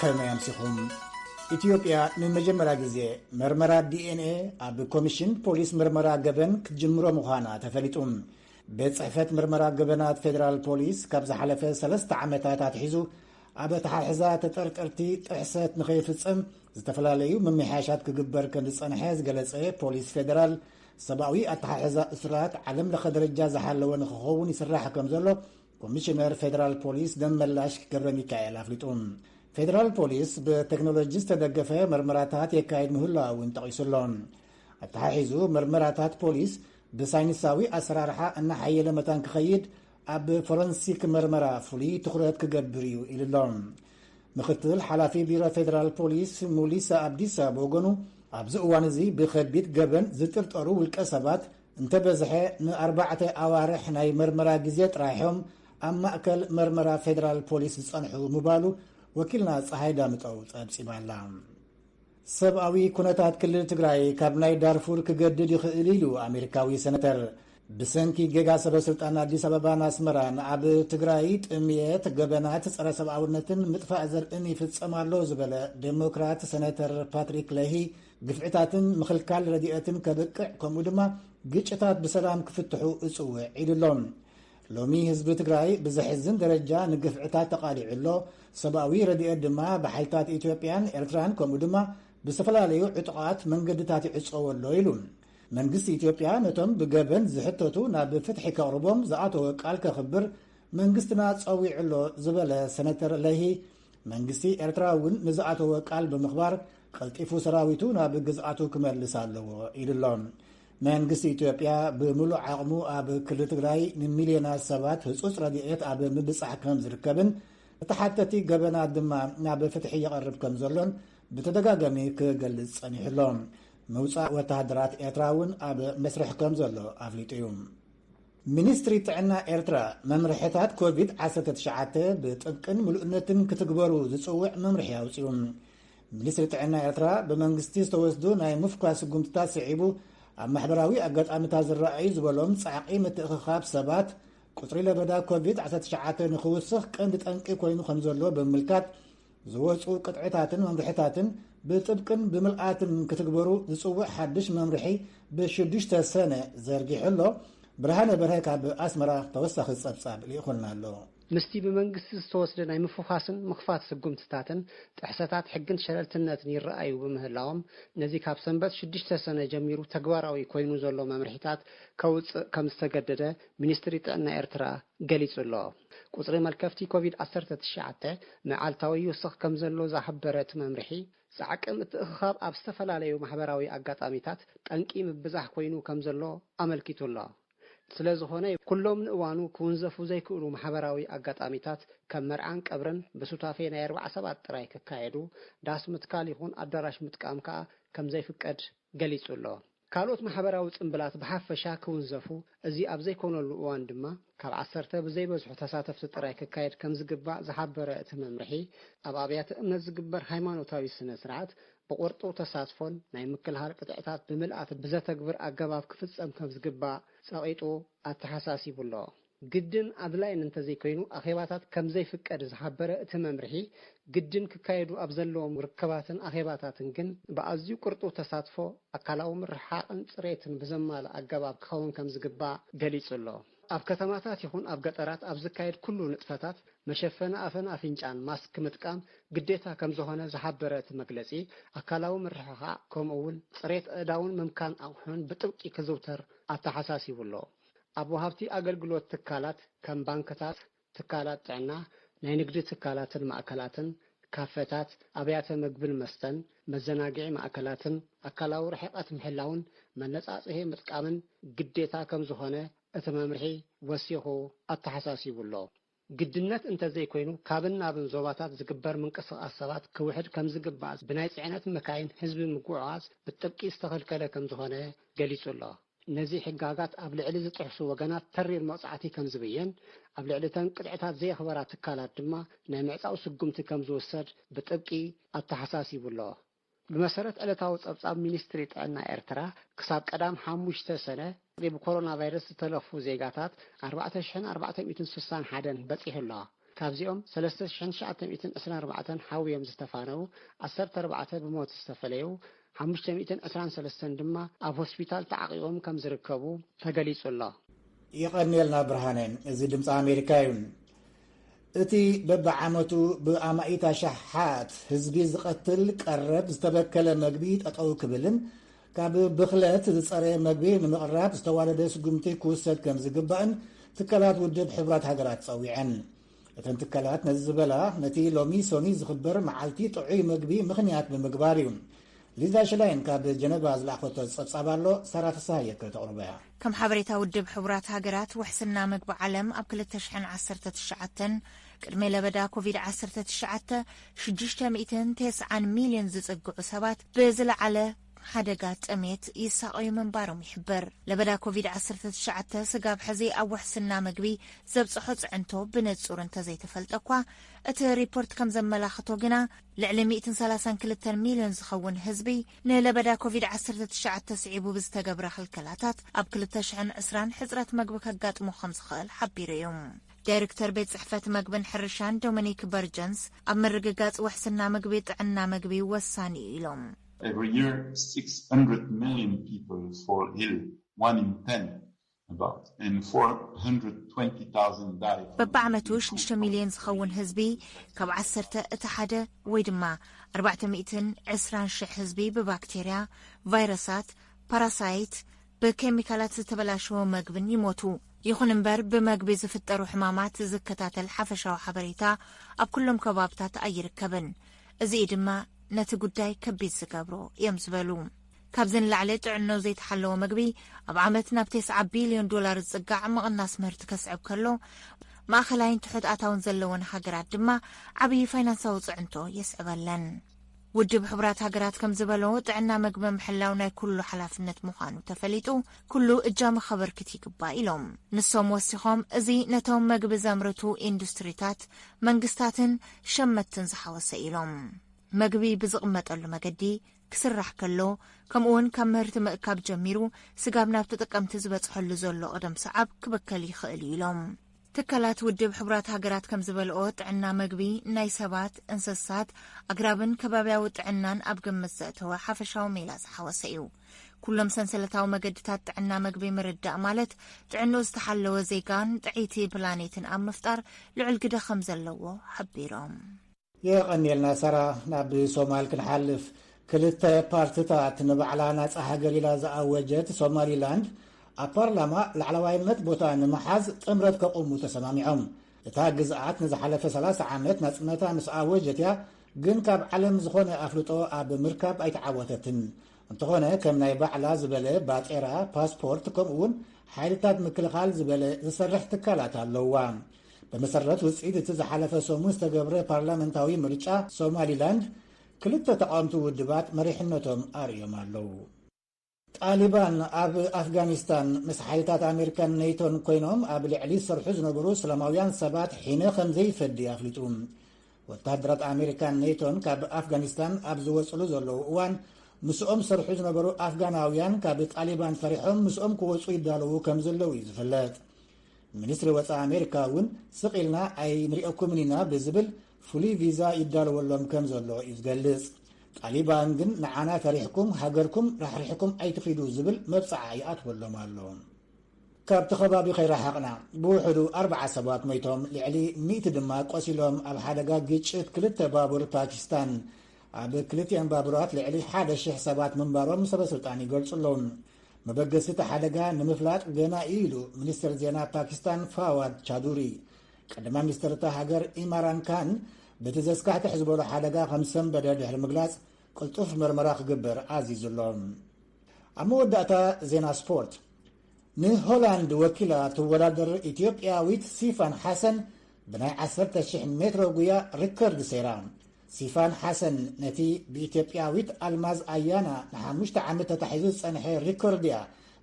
ከመይ ኣምሲኹም ኢትዮጵያ ንመጀመርያ ግዜ መርመራ ዲኤንኤ ኣብ ኮሚሽን ፖሊስ ምርመራ ገበን ክትጅምሮ ምዃና ተፈሊጡ ቤት ጽሕፈት ምርመራ ገበናት ፌደራል ፖሊስ ካብ ዝሓለፈ ሰለስተ ዓመታት ኣትሒዙ ኣብ ኣተሓሕዛ ተጠርጠርቲ ጥሕሰት ንኸይፍጸም ዝተፈላለዩ ምምሕያሻት ክግበር ከም ዝጸንሐ ዝገለጸ ፖሊስ ፌደራል ሰብኣዊ ኣተሓሕዛ እስራት ዓለም ለኸ ደረጃ ዝሓለወ ንክኸውን ይስራሕ ከም ዘሎ ኮሚሽነር ፌዴራል ፖሊስ ደመላሽ ገብረ ሚካኤል ኣፍሊጡ። ፌዴራል ፖሊስ ብቴክኖሎጂ ዝተደገፈ መርመራታት የካየድ ምህላው እውን ጠቒሱ ኣሎ። ኣተሓሒዙ መርመራታት ፖሊስ ብሳይንሳዊ ኣሰራርሓ እናሓየለ መታን ክኸይድ ኣብ ፎረንሲክ መርመራ ፍሉይ ትኹረት ክገብር እዩ ኢሉ'ሎ። ምክትል ሓላፊ ቢሮ ፌደራል ፖሊስ ሙሊሳ ኣብዲሳ ብወገኑ ኣብዚ እዋን እዚ ብከቢድ ገበን ዝጥርጠሩ ውልቀ ሰባት እንተበዝሐ ንኣርባዕተ ኣዋርሕ ናይ መርመራ ግዜ ጥራይ'ዮም ኣብ ማእከል መርመራ ፌደራል ፖሊስ ዝጸንሑ ምባሉ ወኪልና ጸሃይ ዳምጠው ጸብጺባ'ላ። ሰብኣዊ ኩነታት ክልል ትግራይ ካብ ናይ ዳርፉር ክገድድ ይኽእል ኢሉ ኣሜሪካዊ ሰነተር። ብሰንኪ ጌጋ ሰበ ስልጣን ኣዲስ ኣበባን ኣስመራን ኣብ ትግራይ ጥምየት፣ ገበናት ጸረ ሰብኣውነትን ምጥፋእ ዘርእን ይፍጸም ኣሎ ዝበለ ዴሞክራት ሰነተር ፓትሪክ ለሂ ግፍዕታትን ምኽልካል ረድኤትን ከብቅዕ ከምኡ ድማ ግጭታት ብሰላም ክፍትሑ እጽውዕ ኢሉ ኣሎ። ሎሚ ህዝቢ ትግራይ ብዘሕዝን ደረጃ ንግፍዕታት ተቓሊዑ ኣሎ። ሰብኣዊ ረድኤት ድማ ብሓይልታት ኢትዮጵያን ኤርትራን ከምኡ ድማ ብዝተፈላለዩ ዕጡቓት መንገድታት ይዕጸዎ ኣሎ ኢሉ። መንግስቲ ኢትዮጵያ ነቶም ብገበን ዝሕተቱ ናብ ፍትሒ ከቕርቦም ዝኣተወ ቃል ከኽብር መንግስትና ጸዊዑ ኣሎ ዝበለ ሰነተር ለሂ መንግስቲ ኤርትራ እውን ንዝኣተወ ቃል ብምኽባር ቀልጢፉ ሰራዊቱ ናብ ግዝኣቱ ክመልስ ኣለዎ ኢሉ ኣሎ። መንግስቲ ኢትዮጵያ ብምሉእ ዓቕሙ ኣብ ክልል ትግራይ ንሚልዮናት ሰባት ህፁፅ ረድኤት ኣብ ምብፃሕ ከም ዝርከብን ተሓተቲ ገበናት ድማ ናብ ፍትሒ የቐርብ ከም ዘሎን ብተደጋጋሚ ክገልፅ ጸኒሑ ኣሎ። ምውፃእ ወተሃደራት ኤርትራ እውን ኣብ መስርሕ ከም ዘሎ ኣፍሊጡ እዩ። ሚኒስትሪ ጥዕና ኤርትራ፣ መምርሕታት ኮቪድ ዓሰርተ ትሽዓተ ብጥብቅን ምሉእነትን ክትግበሩ ዝጽውዕ መምርሒ ኣውጺኡ። ሚኒስትሪ ጥዕና ኤርትራ፣ ብመንግስቲ ዝተወስዱ ናይ ምፍኳስ ስጉምትታት ስዒቡ፣ ኣብ ማሕበራዊ ኣጋጣሚታት ዝረኣዩ ዝበሎም ጻዕቒ ምትእኽኻብ ሰባት፣ ቁጽሪ ለበዳ ኮቪድ ዓሰርተ ትሽዓተ ንኽውስኽ ቀንዲ ጠንቂ ኮይኑ ከምዘሎ ብምምልካት፣ ዝወፁ ቅጥዕታትን መምርሕታትን ብጥብቅን ብምልኣትን ክትግበሩ ዝፅውዕ ሓድሽ መምርሒ ብሽዱሽተ ሰነ ዘርጊሑ ኣሎ። ብርሃነ በርሀ ካብ ኣስመራ ተወሳኺ ፀብፃብ ልኢኹልና ኣሎ። ምስቲ ብመንግስቲ ዝተወስደ ናይ ምፍዃስን ምኽፋት ስጉምትታትን ጥሕሰታት ሕግን ሸለልትነትን ይረኣዩ ብምህላዎም ነዚ ካብ ሰንበት ሽዱሽተ ሰነ ጀሚሩ ተግባራዊ ኮይኑ ዘሎ መምርሒታት ከውፅእ ከምዝተገደደ ሚኒስትሪ ጥዕና ኤርትራ ገሊፁ ኣሎ። ቁፅሪ መልከፍቲ ኮቪድ ዓሰርተ ትሽዓተ መዓልታዊ ይውስኽ ከም ዘሎ ዝሃበረ እቲ መምርሒ፣ ጻዕቂ ምትእኽኻብ ኣብ ዝተፈላለዩ ማሕበራዊ ኣጋጣሚታት ጠንቂ ምብዛሕ ኮይኑ ከም ዘሎ ኣመልኪቱ ኣሎ። ስለ ዝኾነ፣ ኩሎም ንእዋኑ ክውንዘፉ ዘይክእሉ ማሕበራዊ ኣጋጣሚታት ከም መርዓን ቀብርን ብሱታፌ ናይ ኣርብዓ ሰባት ጥራይ ክካየዱ፣ ዳስ ምትካል ይኹን ኣዳራሽ ምጥቃም ከኣ ከም ዘይፍቀድ ገሊጹ ኣሎ። ካልኦት ማሕበራዊ ጽምብላት ብሓፈሻ ክውንዘፉ፣ እዚ ኣብ ዘይኮነሉ እዋን ድማ ካብ ዓሰርተ ብዘይበዝሑ ተሳተፍቲ ጥራይ ክካየድ ከም ዝግባእ ዝሓበረ እቲ መምርሒ፣ ኣብ ኣብያተ እምነት ዝግበር ሃይማኖታዊ ስነ ስርዓት ብቑርጡው ተሳትፎን ናይ ምክልሃር ቅጥዕታት ብምልኣት ብዘተግብር ኣገባብ ክፍጸም ከም ዝግባእ ጸቒጡ ኣተሓሳሲቡ'ሎ። ግድን ኣድላይን እንተዘይኮይኑ ኣኼባታት ከምዘይፍቀድ ዝሓበረ እቲ መምርሒ፣ ግድን ክካየዱ ኣብ ዘለዎም ርክባትን ኣኼባታትን ግን ብኣዝዩ ቅርጡው ተሳትፎ፣ ኣካላዊ ምርሕሓቕን ፅሬትን ብዘማልእ ኣገባብ ክኸውን ከምዝግባእ ገሊፁ ኣሎ። ኣብ ከተማታት ይኹን ኣብ ገጠራት ኣብ ዝካየድ ኩሉ ንጥፈታት መሸፈኒ ኣፍን ኣፍንጫን፣ ማስክ፣ ምጥቃም ግዴታ ከምዝኾነ ዝሓበረ እቲ መግለፂ፣ ኣካላዊ ምርሕሓቕ ከምኡ እውን ፅሬት ኣእዳውን ምምካን ኣቑሑን ብጥብቂ ክዝውተር ኣተሓሳሲቡ ኣሎ። ኣብ ወሃብቲ ኣገልግሎት ትካላት ከም ባንክታት፣ ትካላት ጥዕና፣ ናይ ንግዲ ትካላትን ማእከላትን፣ ካፈታት፣ ኣብያተ መግብን መስተን፣ መዘናግዒ ማእከላትን ኣካላዊ ርሕቐት ምሕላውን መነጻጽሂ ምጥቃምን ግዴታ ከምዝኾነ እቲ መምርሒ ወሲኹ ኣተሓሳሲቡ'ሎ። ግድነት እንተዘይኮይኑ ካብን ናብን ዞባታት ዝግበር ምንቅስቓስ ሰባት ክውሕድ ከምዝግባእ ብናይ ፅዕነት መካይን ህዝቢ ምጉዕዓዝ ብጥብቂ ዝተኸልከለ ከምዝኾነ ገሊፁ ኣሎ። ነዚ ሕጋጋት ኣብ ልዕሊ ዝጥሕሱ ወገናት ተሪር መቕፃዕቲ ከምዝብየን ኣብ ልዕሊ እተን ቅጥዕታት ዘየኽበራ ትካላት ድማ ናይ ምዕፃው ስጉምቲ ከምዝውሰድ ብጥብቂ ኣተሓሳሲቡ ኣሎ። ብመሰረት ዕለታዊ ጸብጻብ ሚኒስትሪ ጥዕና ኤርትራ፣ ክሳብ ቀዳም ሓሙሽተ ሰነ፣ ቁጽሪ ብኮሮናቫይረስ ዝተለኽፉ ዜጋታት ኣርባዕተ ሽሕን ኣርባዕተ ሚእትን ስሳን ሓደን በጺሑ ኣሎ። ካብዚኦም ሰለስተ ሽሕን ትሽዓተ ሚእትን ዕስራን ኣርባዕተን ሓውዮም ዝተፋነዉ፣ ዓሰርተ ኣርባዕተ ብሞት ዝተፈለዩ፣ ሓሙሽተ ሚእትን ዕስራን ሰለስተን ድማ ኣብ ሆስፒታል ተዓቚቦም ከም ዝርከቡ ተገሊጹ ኣሎ። የቐንየልና ብርሃነ፣ እዚ ድምጺ ኣሜሪካ እዩ። እቲ በብዓመቱ ብኣማኢት ኣሽሓት ህዝቢ ዝቐትል ቀረብ ዝተበከለ መግቢ ጠጠው ክብልን ካብ ብኽለት ዝፀረየ መግቢ ንምቕራብ ዝተዋደደ ስጉምቲ ክውሰድ ከምዝግባእን ትካላት ውድብ ሕቡራት ሃገራት ፀዊዐን። እተን ትካላት ነዚ ዝበላ ነቲ ሎሚ ሰኑይ ዝኽበር መዓልቲ ጥዑይ መግቢ ምኽንያት ብምግባር እዩ። ሊዛ ሽላይን ካብ ጀነቫ ዝለኣኸቶ ጸብጻብ ኣሎ፣ ሳራ ፍስሃየከ ተቕርቦ እያ። ከም ሓበሬታ ውድብ ሕቡራት ሃገራት ውሕስና ምግቢ ዓለም ኣብ ክልተ ሽሕን ዓሰርተ ትሽዓተን ቅድሚ ለበዳ ኮቪድ ዓሰርተ ትሽዓተ ሽዱሽተ ሚእትን ተስዓን ሚልዮን ዝጽግዑ ሰባት ብዝለዓለ ሓደጋ ጥሜት ይሳቐዩ ምንባሮም ይሕበር። ለበዳ ኮቪድ ዓሰርተ ትሽዓተ ስጋብ ሕዚ ኣብ ውሕስና ምግቢ ዘብጽሖ ጽዕንቶ ብንጹር እንተዘይተፈልጠ እኳ እቲ ሪፖርት ከም ዘመላኽቶ ግና ልዕሊ ሚእትን ሰላሳን ክልተን ሚልዮን ዝኸውን ህዝቢ ንለበዳ ኮቪድ ዓሰርተ ትሽዓተ ስዒቡ ብዝተገብረ ክልከላታት ኣብ ክልተ ሽሕን ዕስራን ሕጽረት መግቢ ከጋጥሞ ከም ዝኽእል ሓቢሩ እዩ። ዳይረክተር ቤት ጽሕፈት መግብን ሕርሻን ዶሚኒክ በርጀንስ ኣብ ምርግጋጽ ውሕስና ምግቢ ጥዕና ምግቢ ወሳኒ እዩ ኢሎም። Every year, 600 million people fall ill, one in ten, በብዓመቱ ሽዱሽተ ሚልዮን ዝኸውን ህዝቢ ካብ ዓሰርተ እቲ ሓደ ወይ ድማ ኣርባዕተ ሚእትን ዕስራን ሽሕ ህዝቢ ብባክቴርያ፣ ቫይረሳት፣ ፓራሳይት፣ ብኬሚካላት ዝተበላሸወ መግብን ይሞቱ። ይኹን እምበር ብመግቢ ዝፍጠሩ ሕማማት ዝከታተል ሓፈሻዊ ሓበሬታ ኣብ ኩሎም ከባብታት ኣይርከብን። እዚ'ዩ ድማ ነቲ ጉዳይ ከቢድ ዝገብሮ እዮም ዝበሉ። ካብዚ ንላዕሊ ጥዕንኡ ዘይተሓለወ መግቢ ኣብ ዓመት ናብ ቴስዓ ቢልዮን ዶላር ዝጽጋዕ ምቕናስ ምህርቲ ከስዕብ ከሎ፣ ማእኸላይን ትሑት ኣታውን ዘለወን ሃገራት ድማ ዓብዪ ፋይናንሳዊ ፅዕንቶ የስዕበለን። ውድብ ሕቡራት ሃገራት ከም ዝበሎ ጥዕና መግቢ ምሕላው ናይ ኩሉ ሓላፍነት ምዃኑ ተፈሊጡ ኩሉ እጃመ ከበርክት ይግባእ ኢሎም። ንሶም ወሲኾም እዚ ነቶም መግቢ ዘምርቱ ኢንዱስትሪታት፣ መንግስታትን ሸመትትን ዝሓወሰ ኢሎም። መግቢ ብዝቕመጠሉ መገዲ ክስራሕ ከሎ ከምኡውን ካብ ምህርቲ ምእካብ ጀሚሩ ስጋብ ናብ ተጠቀምቲ ዝበፅሐሉ ዘሎ ቅደም ሰዓብ ክበከል ይኽእል እዩ ኢሎም። ትካላት ውድብ ሕቡራት ሃገራት ከም ዝበልኦ ጥዕና መግቢ ናይ ሰባት፣ እንስሳት፣ ኣግራብን ከባብያዊ ጥዕናን ኣብ ግምት ዘእተወ ሓፈሻዊ ሜላ ዝሓወሰ እዩ። ኩሎም ሰንሰለታዊ መገድታት ጥዕና መግቢ ምርዳእ ማለት ጥዕንኡ ዝተሓለወ ዜጋን ጥዕይቲ ፕላኔትን ኣብ ምፍጣር ልዑል ግደ ከም ዘለዎ ሓቢሮም። የቐንየልና ሰራ ናብ ሶማል ክንሓልፍ ክልተ ፓርትታት ንባዕላ ናጻ ሃገር ኢላ ዝኣወጀት ሶማሊላንድ ኣብ ፓርላማ ላዕለዋይነት ቦታ ንምሓዝ ጥምረት ከቑሙ ተሰማሚዖም እታ ግዝኣት ንዝሓለፈ 30 ዓመት ናጽነታ ምስ ኣወጀት እያ ግን ካብ ዓለም ዝኾነ ኣፍልጦ ኣብ ምርካብ ኣይተዓወተትን እንተኾነ ከም ናይ ባዕላ ዝበለ ባጤራ ፓስፖርት ከምኡ እውን ሓይልታት ምክልኻል ዝበለ ዝሰርሕ ትካላት ኣለዋ ብመሰረት ውፅኢት እቲ ዝሓለፈ ሰሙን ዝተገብረ ፓርላመንታዊ ምርጫ ሶማሊላንድ ክልተ ተቃወምቲ ውድባት መሪሕነቶም ኣርእዮም ኣለዉ። ጣሊባን ኣብ ኣፍጋኒስታን ምስ ሓይልታት ኣሜሪካን ኔቶን ኮይኖም ኣብ ልዕሊ ዝሰርሑ ዝነበሩ ሰላማውያን ሰባት ሒነ ከም ዘይፈዲ ኣፍሊጡ። ወተሃደራት ኣሜሪካን ኔቶን ካብ ኣፍጋኒስታን ኣብ ዝወፅሉ ዘለዉ እዋን ምስኦም ዝሰርሑ ዝነበሩ ኣፍጋናውያን ካብ ጣሊባን ፈሪሖም ምስኦም ክወፁ ይዳለዉ ከም ዘለዉ እዩ ዝፍለጥ። ሚኒስትሪ ወፃኢ ኣሜሪካ እውን ስቕ ኢልና ኣይንሪኦኩምን ኢና ብዝብል ፍሉይ ቪዛ ይዳለወሎም ከም ዘሎ እዩ ዝገልፅ። ጣሊባን ግን ንዓና ፈሪሕኩም ሃገርኩም ራሕሪሕኩም ኣይትኺዱ ዝብል መብፅዓ ይኣትወሎም ኣሎ። ካብቲ ከባቢ ከይረሓቕና ብውሕዱ ኣርብዓ ሰባት ሞይቶም ልዕሊ ሚእቲ ድማ ቆሲሎም ኣብ ሓደጋ ግጭት ክልተ ባቡር ፓኪስታን ኣብ ክልቲኤን ባቡራት ልዕሊ ሓደ ሽሕ ሰባት ምንባሮም ሰበስልጣን ይገልፁ ኣለዉ። መበገሲ እቲ ሓደጋ ንምፍላጥ ገና እዩ ኢሉ ሚኒስትር ዜና ፓኪስታን ፋዋድ ቻዱሪ። ቀዳማይ ሚኒስትር እታ ሃገር ኢማራን ካን በቲ ዘስካሕክሕ ዝበሎ ሓደጋ ከም ዝሰንበደ ድሕሪ ምግላጽ ቅልጡፍ መርመራ ክግበር ኣዚዙ ኣሎ። ኣብ መወዳእታ ዜና ስፖርት ንሆላንድ ወኪላ ትወዳደር ኢትዮጵያዊት ሲፋን ሓሰን ብናይ ዓሰርተ ሽሕ ሜትሮ ጉያ ሪከርድ ሰይራ። ሲፋን ሓሰን ነቲ ብኢትዮጵያዊት ኣልማዝ ኣያና ንሓሙሽተ ዓመት ተታሒዙ ዝጸንሐ ሪኮርድ'ያ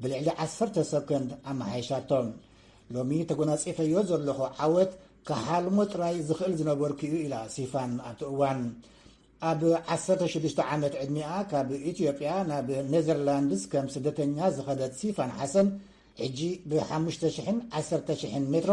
ብልዕሊ ዓሰርተ ሰኮንድ ኣመሓይሻቶ። ሎሚ ተጎናጺፈዮ ዘለኹ ዓወት ክሓልሞ ጥራይ ዝኽእል ዝነበርኩ'ዩ ኢላ ሲፋን ኣብቲ እዋን። ኣብ ዓሰርተ ሽዱሽተ ዓመት ዕድሚኣ ካብ ኢትዮጵያ ናብ ኔዘርላንድስ ከም ስደተኛ ዝኸደት ሲፋን ሓሰን ሕጂ ብሓሙሽተ ሽሕን ዓሰርተ ሽሕን ሜትሮ